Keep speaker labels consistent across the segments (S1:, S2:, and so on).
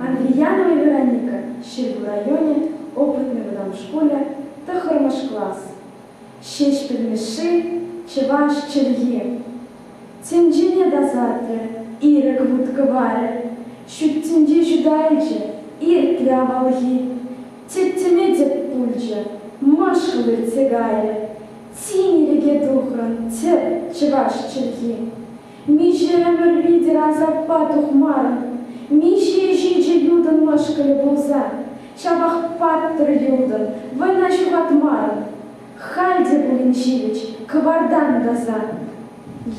S1: Андrijанови Вероника, Ҫӗрпӳ районӗ, Опытный вӑтам шкулӗ, тӑххӑрмӗш класс. Ҫеҫ пӗлмешши, чӑваш чӗлхи. Тӗнчене тасатрӗ, ирӗк вут-кӑварӗ. Ҫут тӗнче ҫуталчӗ, иртрӗ авалхи. Тӗттӗме тӗп пулчӗ, мӑшкӑл иртсе кайрӗ. Тин ирӗке тухрӑн тӗп чӑваш чӗлхи. Миҫе ӗмӗр лидер асаппа тухмарӑн, миҫе ҫичӗ ютӑн мӑшкӑлӗ пулса, ҫапах паттӑр ютӑн вӑйна ҫухатмарӑн. Халь те пулин ҫивӗч кӑвартан тӑсан,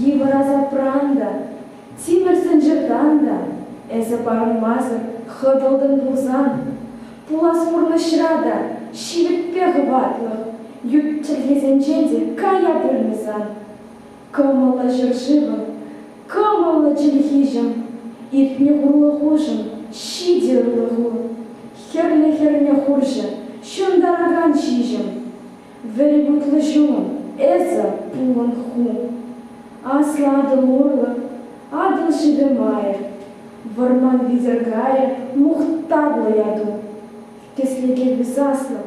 S1: йывӑр асапран та, тимӗр сӑнчӑртан та эсӗ парӑнмасӑр хӑтӑлтӑн пулсан, пулас пурнӑҫра та ҫивӗтпе хӑватлӑх ют чӗлхесенчен те кая пулмӗ сан. Кӑмӑллӑ ҫӗршывӑм, кӑмӑллӑ чӗлхиҫӗм, иртнӗ хурлӑхушӑн ҫитӗ ырлӑху, хӗрлӗ-хӗрлӗ хурҫӑ ҫунтаракан ҫиҫӗм, вӗри тутлӑ ҫум, эсӗ, пулӑн ху. Аслӑ Атӑл урлӑ Атӑл шывӗ майӗ, вӑрман витӗр кайӗ мухтавлӑ яту. Кӗсреке высаслӑ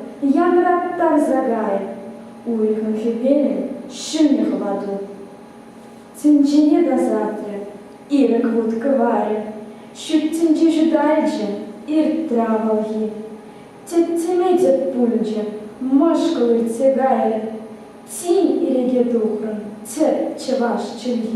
S1: янраттарса кайӗ, уйӑхӑн хӗвелӗ ҫӗнӗ хӑвату тӗнчене тасатрӗ, ирӗк вут кӑварӗ ҫут тӗнче ҫуталчӗ, иртрӗ авалхи. Тӗттӗме тӗп пулчӗ, мӑшкӑл иртсе кайрӗ, тин иреке тухрӑм тӗп чӑваш чӗлхи.